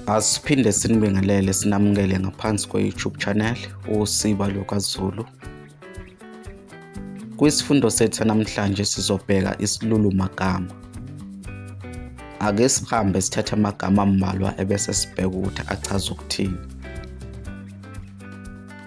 Asiphinde sinibingelele sinamukele ngaphansi kwe-YouTube channel uSiba LukaZulu. Kwisifundo sethu namhlanje sizobheka isilulu magama. Ake sihambe sithathe amagama ambalwa ebese sibheka ukuthi achaza ukuthini.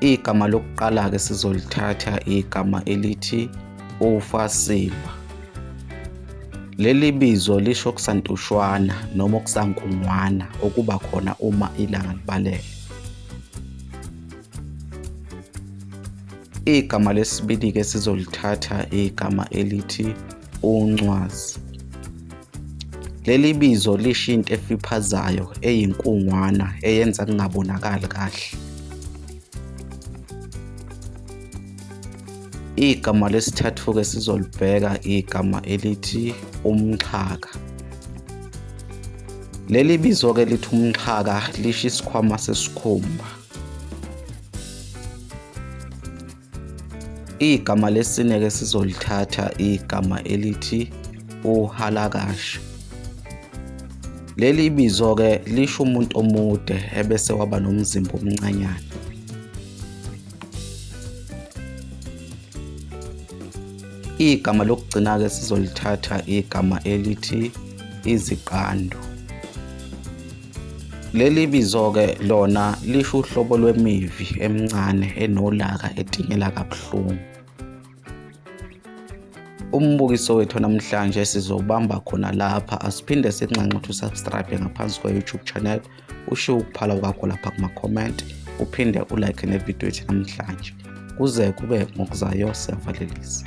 Igama lokuqala-ke sizolithatha igama elithi uFasimba. Leli bizo lisho okusantushwana noma okusankungwana okuba khona uma ilanga libalele. Igama lesibili-ke sizolithatha igama elithi uNcwazi. Leli bizo lisho into efiphazayo eyinkungwana eyenza kungabonakali kahle. Igama lesithathu-ke sizolibheka igama elithi umxhaka. Leli bizo-ke lithi umxhaka lisho isikhwama sesikhumba. Igama lesine ke sizolithatha igama elithi uhalakasha. Leli bizo ke lisho umuntu omude ebese waba nomzimba omncanyana. Igama lokugcina ke sizolithatha igama elithi iziqando. Leli bizo-ke lona lisho uhlobo lwemivi emincane enolaka etingela kabuhlungu. Umbukiso wethu namhlanje sizobamba khona lapha asiphinde sinxanxe ukuthi usubscribe ngaphansi kwe-YouTube channel ushiye ukuphala kwakho lapha kuma-comment uphinde ulike nevidiyo ethu namhlanje kuze kube ngokuzayo siyavalelisa